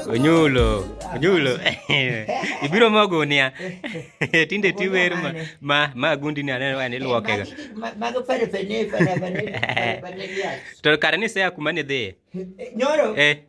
Onyulo, onyulo. Ibiro ma gunia. Tinde ti wer ma ma ma gundi ni aneno ni luoke ga. Mago pare pene pare pene. To kare ni sea kuma ni dhi. Nyoro. Eh.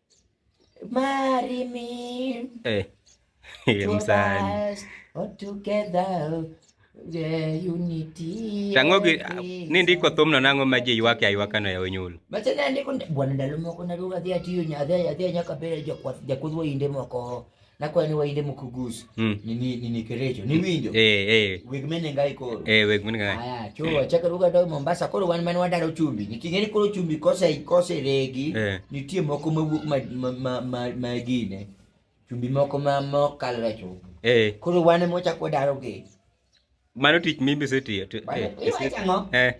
Marry me. Eh. Msani. All together. The unity. Tango gi ni ndiko thumno nango ma ji ywak aywaka no ya onyulo. Macha ne ndiko bwana ndalo moko na ruga dhia tiyo nya dhia dhia nyaka bere jo kwa ja kudwo inde moko. na kwa ni wainde mukugus mm. ni ni ni ni kerecho ni winjo eh eh weg mene ngai koro eh weg mene ngai aya cho yeah. chaka ruga do Mombasa koro wan man wadaro chumbi ni tingeni koro chumbi kosa ikose regi eh. nitie moko mawuok ma ma ma, ma, ma gine chumbi moko ma mokalre cho eh koro wan mo chako daro ge mano tich mimi setiyo eh, eh.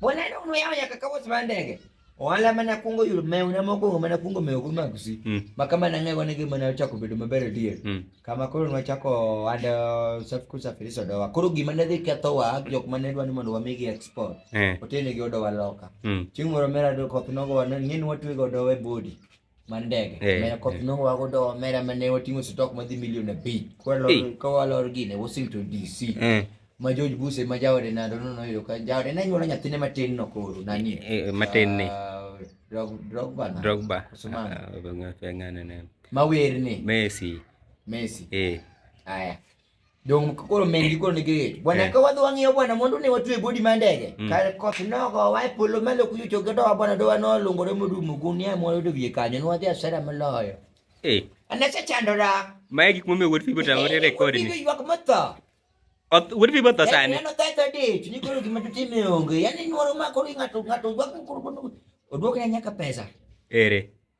Wanaenda uno yao yakakawa sibandege. Wala mana kungo yul me una moko mana kungo me okuma kusi. Mm. Makama na ngai wanege mana chako bedo mabere die. Mm. Kama koro nwa chako anda safi kusafiri sodo wa. Koro gima nadhi ketho wa jok mane dwa ni mondo wamigi export. Eh. Otene gi odo wa loka. Mm. Chieng' moro mera do koth nogo wana ng'eni watwe godo we body. mar ndege Eh, mera koth eh. nongo wago do mera mane wating'o stock madhi milion abich Eh. kwalor kawalor gine Washington DC Eh, ma George Bush ma jaode nado no noyudo ka jaode ne nyuolo nyathine matin no koro nani eh, matin ni Ah, Drog- Drogba na Drogba Koso mano. Ah, ng'a- ng'ano ne ma wer ni Messi Messi eh aya Dong koro mendi koro nigi rate. Bwana eh. ka wadhi wang'iyo bwana mondo ne watwe bodi ma ndege. Mm. Kar koth nogo wa e polo malo kuyo choge do bwana do wano lungore modumo gunia mo yudo wiye kanyo ne wadhi asara moloyo. Eh. Anase chandora. Mae gik momiyo wuod Fibo tamore rekod ni. Ywak motho. Wuod Fibo tho sani. Neno tho tho dich ni koro gima tutime onge. Yaani nyuoro ma koro ng'ato ng'ato ywak koro oduok na nyaka pesa. Ere.